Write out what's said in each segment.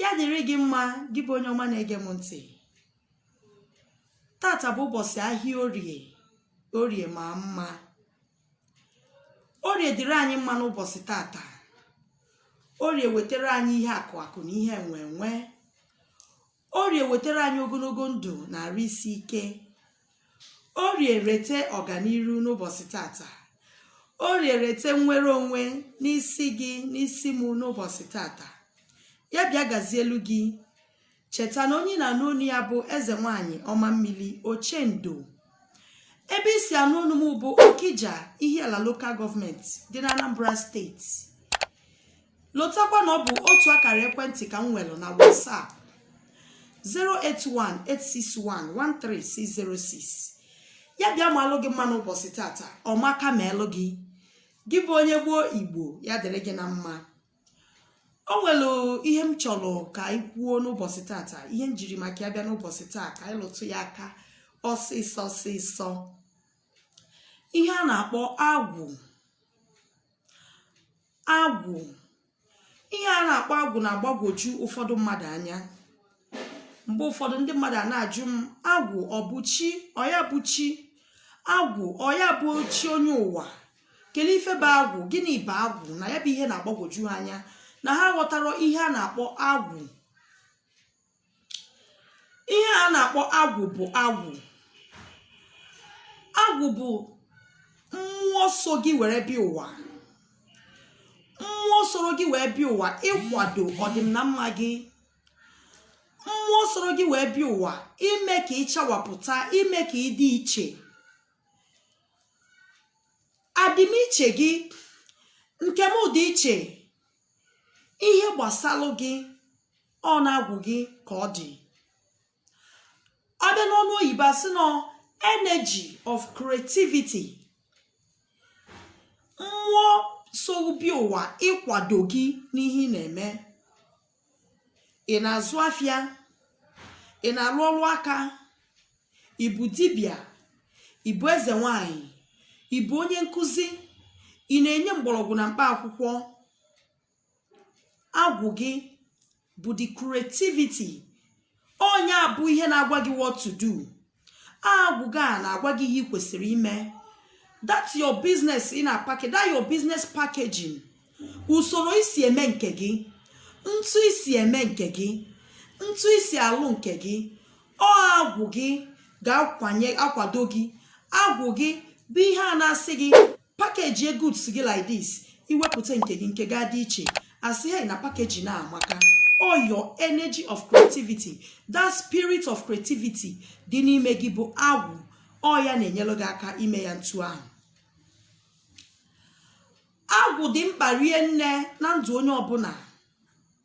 ya dịrị gị mma gị bụ onye ọma na-ege m ntị tata bụ ụbọchị ahịa orie orie ma mma orie dịrị anyị mma n'ụbọchị tata orie wetara anyị ihe akụ akụ na ihe enwe enwe Orie wetara anyị ogologo ndụ na arụ isi ike. Orie weta ọganiru n'ụbọchị tata. Orie weta nnwere onwe n'isi gị n'isi mụ n'ụbọchị tata. Ya bịa gazielu gị. Cheta na onye ị na-anụ onu ya bụ eze nwaanyị ọma mmili Ochendo. Ebe i si anụ onu m bụ Okija Ihiala Local Government dị n'Anambra Steeti. lotakwa na ọ bụ otu akara ekwentị ka m nwere na WhatsApp 08186113606 ya bịa maalụ gị mma n'ụbọchị tata ọ maka maelụ gị gị bụ onye gboo igbo ya dịrị gị na mma o nwere ihe m chọrọ ka anyị kwuo n'ụbọchị tata ihe m jiri maka ya bịa n'ụbọchị taa ka anyị lụtụ ya aka ọsịsọ ọsịsọ ihe a na-akpọ agwụ agwụ̀ ihe a na-akpọ agwụ̀ na-agbagwoju ụfọdụ mmadụ̀ anya mgbe ụfọdụ ndị mmadụ̀ a na-ajụ m agwụ̀ ọ bụ chi ọ ya bụ chi agwụ̀ ọ ya bụ chi onye ụwa kedu ife bụ agwụ̀ gịnị bụ agwụ̀ na ya bụ ihe na-agbagwoju ha anya na ha aghọtarọ ihe a na-akpọ agwụ̀ ihe a na-akpọ agwụ bụ agwụ agwụ bụ mmụọ so gị were bịa ụwa mmụọ soro gị wee bịa ụwa ịkwado ọdị na mma gị mmụọ soro gị wee bịa ụwa ime ka ị chawapụta ime ka ị dị iche adịmiche gị nke m dị iche ihe gbasalụ gị ọ n'agwụ gị ka ọ dị ọ bịa n'ọnụ oyibo a sị na ọ energy of creativity mmụọ so gị bịa ụwa ịkwado gị n'ihe ị na-eme ị na-azụ afịa ị na-arụ ọrụ aka ị bụ dibịa ị bụ eze nwanyị ị bụ onye nkụzi ị na-enye mgbọrọgwụ na mkpa akwụkwọ agwụ gị bụ the creativity onye a bụ ihe na-agwa gị what to do agwụ gị a na-agwa gị ihe ị kwesịrị ime that your business ị na-apackage that your business packaging usoro i si eme nke gị ntu i si eme nke gị ntu i si alụ nke gị ọ agwụ gị ga-akwado gị agwụ gị bụ ihe a na-asị gị package ye goods gị like this iwepụta nke gị nke ga-adị iche asị hey na package na-amaka all your energy of creativity that spirit of creativity dị n'ime gị bụ agwụ ọ ya na-enyere gị aka ime ya ntu ahụ agwụ dị mkpa rie nne na ndụ onye ọbụla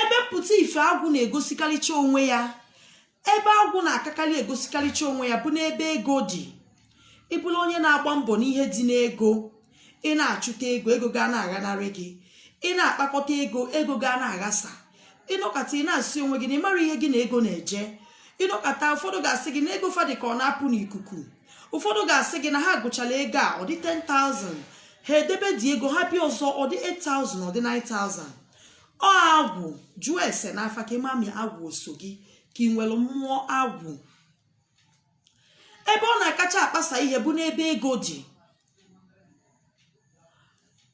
ebe mpụta ife agwụ na-egosikarịcha onwe ya ebe agwụ na-akakarị egosikarịcha onwe ya bụ n'ebe ego dị ị bụrụ onye na-agba mbọ n'ihe dị n'ego ị na-achụta ego ego ga na-aghanarị gị ị na-akpakọta ego ego ga na-aghasa ịnọkata ị na-asị onwe gị na ị marọ ihe gị na ego na-eje ịnọkata ụfọdụ ga-asị gị na ego fa dị ka ọ na-apụ n'ikuku ụfọdụ ga-asị gị na ha gụchara ego a ọ dị 10,000 ha edebe the ego ha bịa ọzọ ọ dị 8,000 ọ dị 9,000 ọ agwụ jụọ ese n'afa ka ị ma ma agwụ o so gị ka ị nwere mmụọ agwụ ebe ọ na-akacha akpasa ihe bụ n'ebe ego dị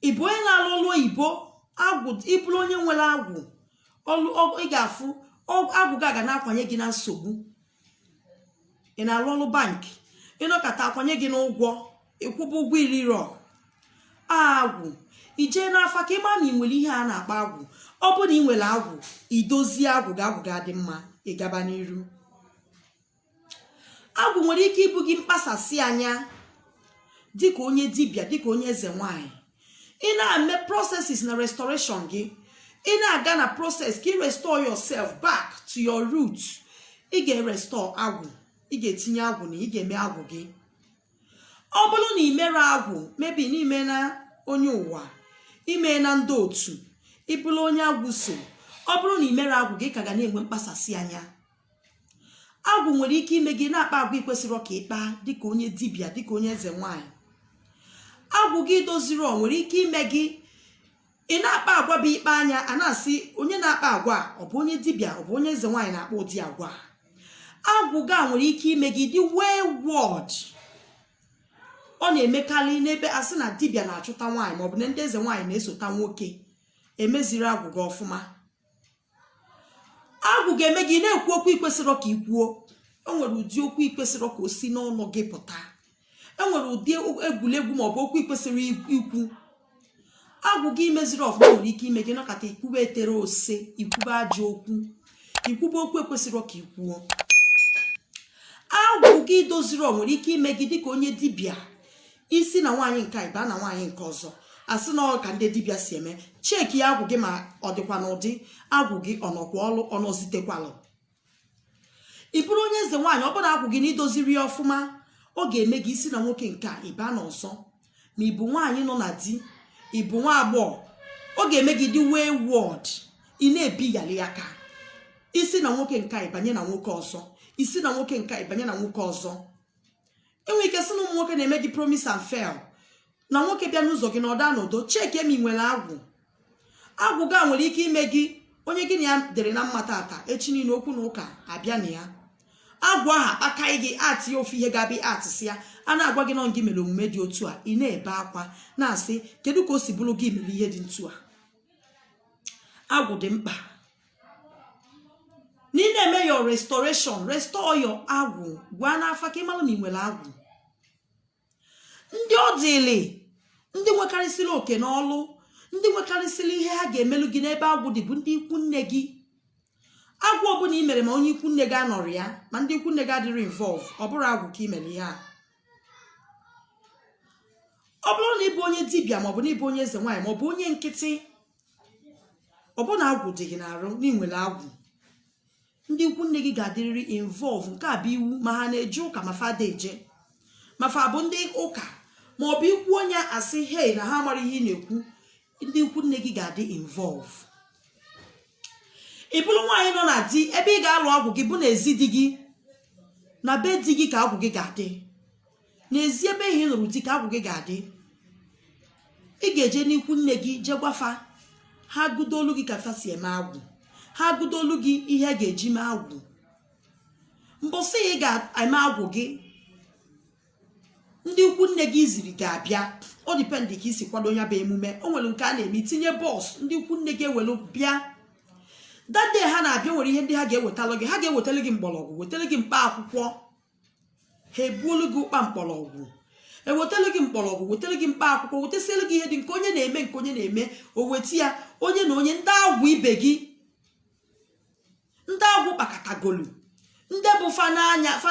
ịbụ onye na-alụ ọlụ oyibo agwụ ịbụrụ onye nwere agwụ ị ga-afụ agwụ gị aga na-akwanye gị na nsogbu ị na-arụ ọrụ bank ịnọkata akwanye gị n'ụgwọ ịkwụba ụgwọ irirọ agwụ ijee n'afa ka ịma na ị nwere ihe a na-akpọ agwụ ọ bụrụ na ị nwere agwụ idozie agwụ gị agwụ gị adị mma ịgaba n'iru agwụ nwere ike ibu gị mkpasasị anya dịka onye dibịa dịka onye eze nwanyị ị na-eme processes na restoration gị ị na-aga na process ka ị restore yourself back to your root ị ga-erestore agwụ ị ga-etinye agwụ na ị ga-eme agwụ gị ọ bụrụ na ị merọ agwụ maybe na imena onye ụwa imena ndị otu ịbụrụ onye agwụ so ọ bụrụ na ị merọ agwụ gị ka ga na-enwe mkpasasị anya agwụ nwere ike ime gị na-akpa agwa ikwesịrọ ka ịkpa dịka onye dibịa dịka onye eze nwanyị agwụ gị idozirọ nwere ike ime gị ị na-akpa agwa bụ ikpe anya a na-asị onye na-akpa agwa a, ọ bụ onye dibịa ọ bụ onye eze nwaanyị na-akpa ụdị agwa a. agwụ gị a nwere ike ime gị dị wayward ọ na-emekarị n'ebe a sị na dibịa na-achụta nwaanyị maọbụ na ndị eze nwaanyị na-esota nwoke emezirọ agwụ gị ọfụma agwụ ga-eme gị na-ekwu okwu ikwesịrọ ka ị kwuo enwere ụdị okwu ikwesịrọ ka o si n'ọnụ gị pụta enwere ụdị egwuregwu maọbụ okwu ikwesịrọ ikwu agwụ gị imezirọ ọfụma nwere ike ime gị nọkata ikwube etere ose ikwube ajọ okwu ikwube okwu ekwesịrọ ka ị kwuo agwụ gị idozirọ nwere ike ime gị dịka onye dibịa isi na nwaanyị nke a ịba na nwaanyị nke ọzọ asị na ọ ka ndị dibịa si eme chekia agwụ gị ma ọ dịkwa n'ụdị agwụ gị ọ nọkwa ọlụ ọ nọzitekwalụ ị bụrụ onye eze nwaanyị ọ bụrụ agwụ gị na i dozirọ ya ọfụma ọ ga-eme gị isi na nwoke nke a ịba na ọzọ ma ị bụ nwaanyị nọ na di ị bụ nwa agbọghọ ọ ga-eme gị dị wayward ị na-ebiyali aka isi na nwoke nke a ịbanye na nwoke ọzọ isi na nwoke nke a ịbanye na nwoke ọzọ i nwere ike sị na ụmụ nwoke na-eme gị promise and fail na nwoke bịa n'ụzọ gị na ọ da anọdo chekie ma i nwere agwụ agwụ ga nwere ike ime gị onye gị na ya dịrị na mma tata echi niile okwu na ụka abịa na ya agwụ ahụ akpakaghị gị atị ya ofu ihe ga-abịa atịsị ya a na-agwa gị na ọ gị mere omume dị otu a ị na-ebe akwa na-asị kedu ka o si bụrụ gị mere ihe dị ntu a agwụ dị mkpa na ị na-eme your restoration restore your agwụ gaa n'afa ka ị malụ ma ị nwere agwụ ndị ọ dịlị ndị nwekarịsịrị oke na ọlụ ndị nwekarịsịrị ihe ha ga-emelụ gị n'ebe agwụ dị bụ ndị ikwu nne gị agwụ ọbụla i mere ma onye ikwu nne gị anọrọ ya ma ndị ikwu nne gị adịrọ involve ọ bụrọ agwụ ka i mere ihe a ọ bụrụ na ị bụ onye dibịa maọbụ na ị bụ onye eze nwaanyị maọbụ onye nkịtị ọ bụrụ na agwụ dị gị n'arụ na ị nwere agwụ ndị ikwu nne gị ga-adịrịrị involve nke a bụ iwu ma ha na-eje ụka ma fa ada eje ma fa bụ ndị ụka ma ọ bụ ikwu onye asị hei na ha amarọ ihe ị na-ekwu ndị ikwu nne gị ga-adị involve ị bụrụ nwaanyị nọ na di ebe ị ga-alụ agwụ gị bụ n'ezi di gị na be di gị ka agwụ gị ga-adị n'ezi ebe ị lụrụ di ka agwụ gị ga-adị ị ga-eje n'ikwu nne gị jee gwa fa ha gụdoolu gị ka fa si eme agwụ ha gụdoolu gị ihe a ga-eji mee agwụ mbọsị ị ga-eme agwụ gị ndị ikwu nne gị i ziri ga-abịa ọ depend ka i si kwado ya bụ emume o nwere nke a na-eme i tinye bus ndị ikwu nne gị ewelu bịa that day ha na-abịa nwere ihe ndị ha ga-ewetalụ gị ha ga-ewetara gị mgbọrọgwụ wetara gị mkpa akwụkwọ ha ebuolu gị ụkpa mkpọrọgwụ ewetara gị mkpọrọgwụ wetara gị mkpa akwụkwọ wetasiere gị ihe dị nke onye na-eme nke onye na-eme o weta ya onye na onye ndị agwụ ibe gị ndị agwụ kpakọtagolu ndị bụ fa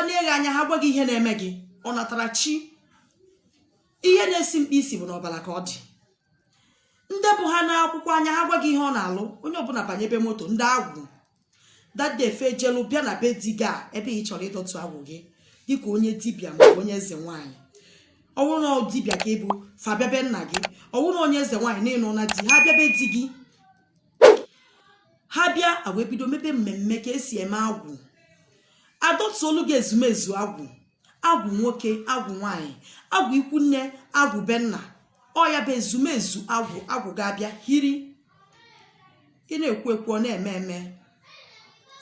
nee gị anya ha gwa gị ihe na-eme gị ọ natara chi ihe na-esi mkpa isi bụ n'ọbara ka ọ dị ndị bụ ha nee akwụkwọ anya ha gwa gị ihe ọ na-alụ onye ọbụla banyebe moto ndị agwụ that day fa ejelu bịa na be di gị ebe ị chọrọ ịdọtụ agwụ gị dịka onye dibịa ma onye eze nwaanyị ọwụ na dibịa ka ị bụ fa bịa be nna gị ọwụ na onye eze nwaanyị na ị nọ na di ha bịa be di gị ha bịa wee bido mebe mmemme ka e si eme agwụ adọtuolu gị ezumezu agwụ agwụ nwoke agwụ nwaanyị agwụ ikwu nne agwụ be nna ọ ya bụ ezumezu agwụ agwụ ga-abịa hiri ị na-ekwu ekwu ọ na-eme eme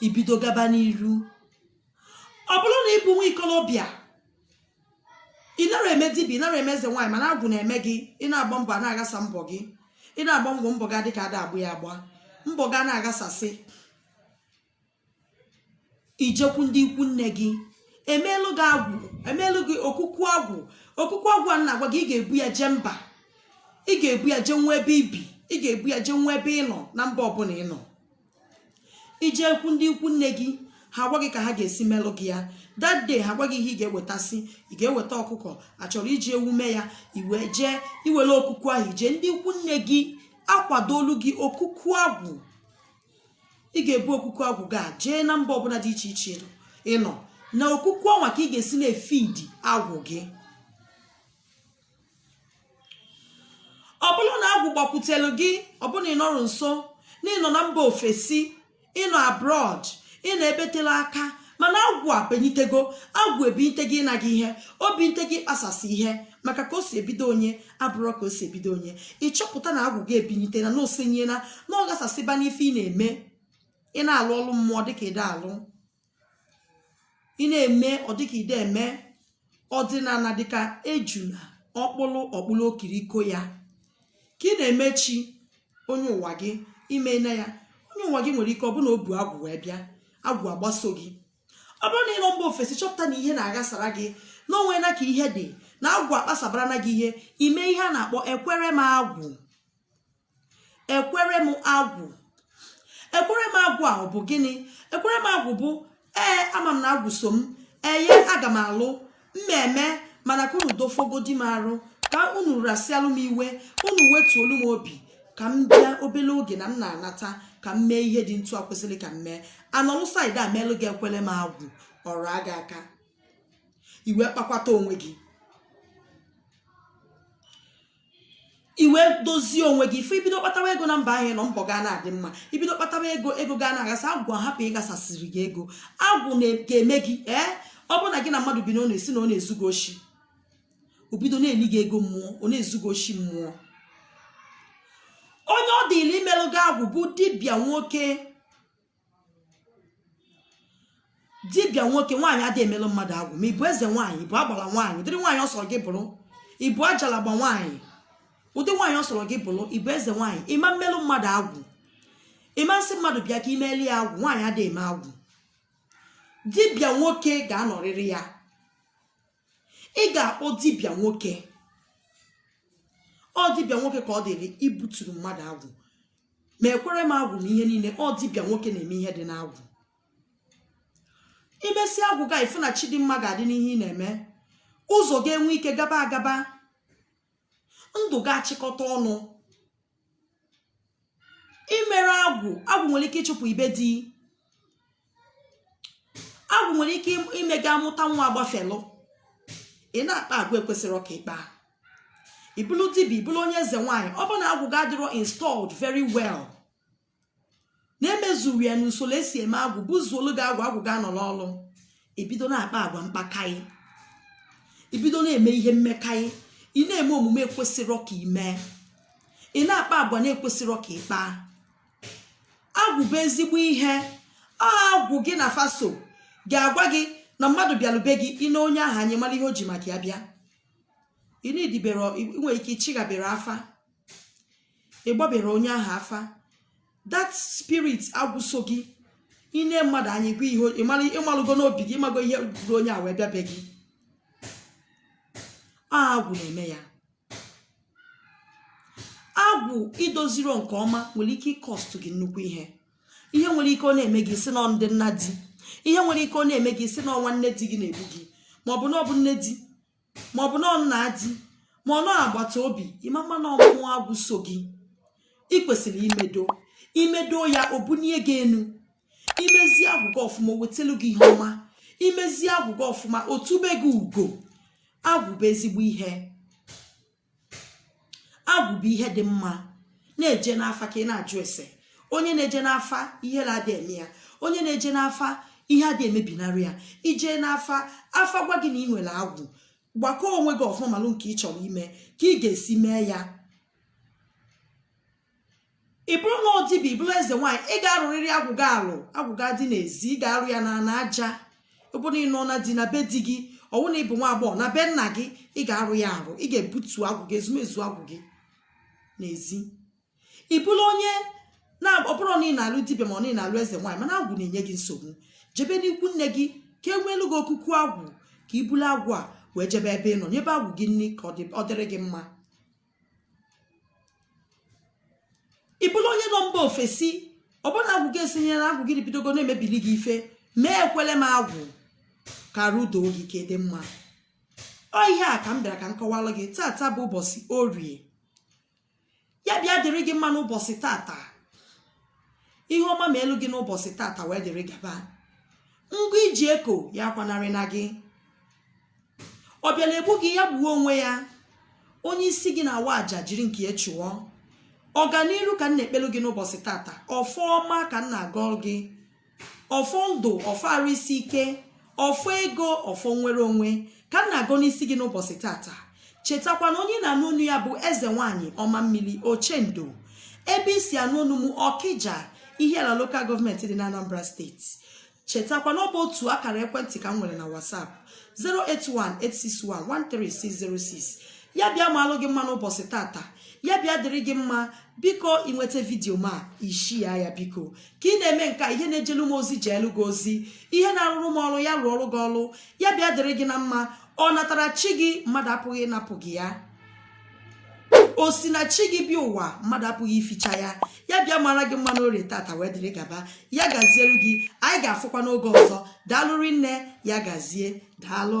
i bido gaba n'iru ọ bụrụ na ị bụ nwa ikolobịa ị nara eme dibịa ị nara eme eze nwaanyị mana agwụ na-eme gị ị na-agba mbọ a na-aghasa mbọ gị ị na-agba mbọ mbọ gị adị ka a da agba ya agba mbọ gị a na-aghasasị i jekwu ndị ikwu nne gị emeelu gị agwụ emeelu gị okuku agwụ okuku agwụ a na-agwa gị ị ga-ebu ya jee mba ị ga-ebu ya jee nwa ebe i bi ị ga-ebu ya jee nwa ebe ị nọ na mba ọbụla ị nọ i jekwu ndị ikwu nne gị ha agwa gị ka ha ga-esi melụ gị ya that day ha agwa gị ihe ị ga-ewetasị ị ga-eweta ọkụkọ a chọrọ iji ewu mee ya i wee jee i were okuku ahụ i jee ndị ikwu nne gị akwadolu gị okuku agwụ ị ga-ebu okuku agwụ ga jee na mba ọbụla dị iche iche ị nọ na okuku ọnwa ka ị ga-esi na-efidi agwụ gị ọ bụrụ na agwụ gbakwutelu gị ọ bụ na ị nọrọ nso na ị nọ na mba ofesi ị nọ abroad ị nọ ebe telu aka mana agwụ ebinitego agwụ ebinite gị ịna gị ihe o binite gị ịkpasasị ihe maka ka o si ebido onye abụrọ ka o si ebido onye ị chọpụta na agwụ gị ebinite na na o senyela na ọ ghasasịba n'ife ị na-eme ị na-alụ ọlụ mmụọ dịka ị da alụ ị na-eme ọ dịka i de eme ọdịnala dịka ejuna ọkpụlụ ọkpụlụ okiriko ya ka ị na-eme chi onye ụwa gị i mena ya onye ụwa gị nwere ike ọ bụrụ na o bu agwụ wee bịa agwụ agbaso gị ọ bụrụ na ị nọ mba ofesi chọpụta na ihe na-aghasara gị na o nwena ka ihe dị na agwụ akpasabarana gị ihe i mee ihe a na-akpọ ekwere m agwụ ekwere m agwụ ekwere m agwụ ahụ bụ gịnị ekwere m agwụ bụ ee ama m na agwụ so m eye aga m alụ mmemme mana ka unu dofogodi m arụ ka unu rasịalụ m iwe unu wetuolu m obi ka m bịa obele oge na m na-anata ka m mee ihe dị ntu a kwesịrị ka m mee a nọlụ side a meelụ gị ekwere m agwụ ọ raa gị aka i wee kpakwata onwe gị i wee dozie onwe gị ife i bido kpatawa ego na mba ahụ ị nọ mbọ gị a na-adị mma i bido kpatawa ego ego gị a na-aghasa agwụ ahapụ ịghasasịrị gị ego agwụ ga-eme gị ee ọ bụrụ na gị na mmadụ bi na ọ na-esi na ọ na-ezu gị oshi o bido na-eli gị ego mmụọ ọ na-ezu gị oshi mmụọ onye ọ dịlị imelụ gị agwụ bụ dibịa nwoke dibịa nwoke nwaanyị adịghị emelụ mmadụ agwụ ma ị bụ eze nwaanyị ị bụ agbala nwaanyị ụdịrị nwaanyị ọ sọrọ gị bụrụ ị bụ ajalagba nwaanyị ụdị nwaanyị ọ sọrọ gị bụrụ ị bụ eze nwaanyị ị ma mmelụ mmadụ agwụ ị ma nsị mmadụ bịa ka i meli ya agwụ nwaanyị adịghị eme agwụ dibịa nwoke ga-anọrịrị ya ị ga-akpọ dibịa nwoke ọ dibịa nwoke ka ọ dịrị ibuturu mmadụ agwụ ma ekwere m agwụ na ihe niile ọ dibịa nwoke na-eme ihe dị n'agwụ i mesie agwụ gị ị fụ na chi dị mma ga-adị n'ihe ị na-eme ụzọ ga-enwe ike gaba agaba ndụ ga-achịkọta ọnụ i mere agwụ agwụ nwere ike ịchụpụ ị be di agwụ nwere ike ime gị amụta nwa agbafelụ ị na-akpa agwa ekwesịrọ ka ị kpaa ị bụlụ dibịa ị bụlụ onye eze nwaanyị ọ bụ na agwụ gị adịrọ installed very well na e mezurọ ya n'usoro e si eme agwụ buzuolu gị agwụ agwụ gị anọ n'ọlụ i bido na-akpa agwa mkpakaị i bido na-eme ihe mmekaị ị na-eme omume ekwesịrọ ka ị mee ị na-akpa agwa na-ekwesịrọ ka ị kpaa agwụ bụ ezigbo ihe ọ agwụ gị na afa so ga-agwa gị na mmadụ bịalu be gị i nee onye ahụ anya ị mara ihe o ji maka ya bịa ị na-edibere ị nwere ike ị chịghabere afa ị gbabere onye ahụ afa that spirit agwụ so gị i nee mmadụ anya ị gwa ihe o- ị mara ị malụgo n'obi gị ị mago ihe buru onye a wee bịa be gị ọ agwụ na-eme ya agwụ i doziro nke ọma nwere ike ịcost gị nnukwu ihe ihe nwere ike ọ na-eme gị ị sị na ọ ndị nna di ihe nwere ike ọ na-eme gị ị sị na ọ nwanne di gị na-egbu gị ma ọ bụ na ọ bụ nne di ma ọ bụ na ọ nna di ma ọ na ọ agbata obi ị ma ama na ọ mmụọ agwụ so gị ị kwesịrị imedo i medo ya o bunie gị enu i mezie agwụ gị ọfụma o wetelu gị ihe ọma i mezie agwụ gị ọfụma o tube gị ugo agwụ bụ ezigbo ihe agwụ bụ ihe dị mma na-eje n'afa ka ị na-ajụ ese onye na-eje n'afa ihe na-adị eme ya onye na-eje n'afa ihe adị emebinarị ya i jee n'afa afa gwa gị na ị nwere agwụ gbakọọ onwe gị ọfụma malụ nke ị chọrọ ime ka ị ga-esi mee ya ị bụrụ nwa dibịa ị bụrụ eze nwaanyị ị ga-arụrịrị agwụ gị alụ agwụ gị adị n'ezi ị ga-arụ ya na na aja ọ bụ na ị nọ na di na be di gị ọ wụ na ị bụ nwa agbọghọ na be nna gị ị ga-arụ ya arụ ị ga-ebutu agwụ gị ezumezu agwụ gị n'ezi ị bụrụ onye na ọ bụrụ na ị na-alụ dibịa ma ọ na ị na-alụ eze nwaanyị mana agwụ na-enye gị nsogbu jebe n'ikwu nne gị ka e nweelu gị okuku agwụ ka i bulu agwụ a wee jebe ebe ị nọ nyebe agwụ gị nri ka ọ dị- ọ dịrị gị mma ị bụlụ onye nọ mba ofesi ọbụna agwụ gị esinye na agwụ gị bidogo na-emebili gị ife mee ekwele m agwụ ka arụ do gị ka dị mma ọ ihe a ka m bịara ka m kọwalụ gị tata bụ ụbọsị orie ya bịa dịrị gị mma n'ụbọsị tata ihe ọma meelụ gị n'ụbọsị tata wee dịrị gaba ngwa i ji eko ya akwanarịna gị ọ bịara egbu gị ya gbuo onwe ya onye isi gị na-awa aja jiri nke ya chụọ ọganiru ka m na-ekpelu gị n'ụbọsị tata ọfọ ọma ka m na-agọ gị ọfọ ndụ ọfọ arụ isi ike ọfọ ego ọfọ nwere onwe ka m na-agọ n'isi gị n'ụbọsị tata chetakwa na onye ị na-anụ onu ya bụ eze nwaanyị ọma mmiri ochendo ebe i si anụ onu m okija ihiala local government dị na anambra state chetakwa na ọ bụ otu akara ekwentị ka m nwere na WhatsApp 08186113606 ya bịa maalụ gị mma n'ụbọsị tata ya bịa dịrị gị mma biko ị nweta video m a ị share ya biko ka ị na-eme nke a ihe na-ejelu m ozi jeelu gị ozi ihe na-arụrụ m ọrụ ya rụọrụ gị ọrụ ya bịa dịrị gị na mma ọ natara chi gị mmadụ apụghị ịnapụ gị ya o si na chi gị bịa ụwa mmadụ apụghị ificha ya ya bịa maara gị mma n'orie tata wee dịrị gaba ya gazielu gị anyị ga-afụkwa n'oge ọzọ daalụ rinne ya gazie daalụ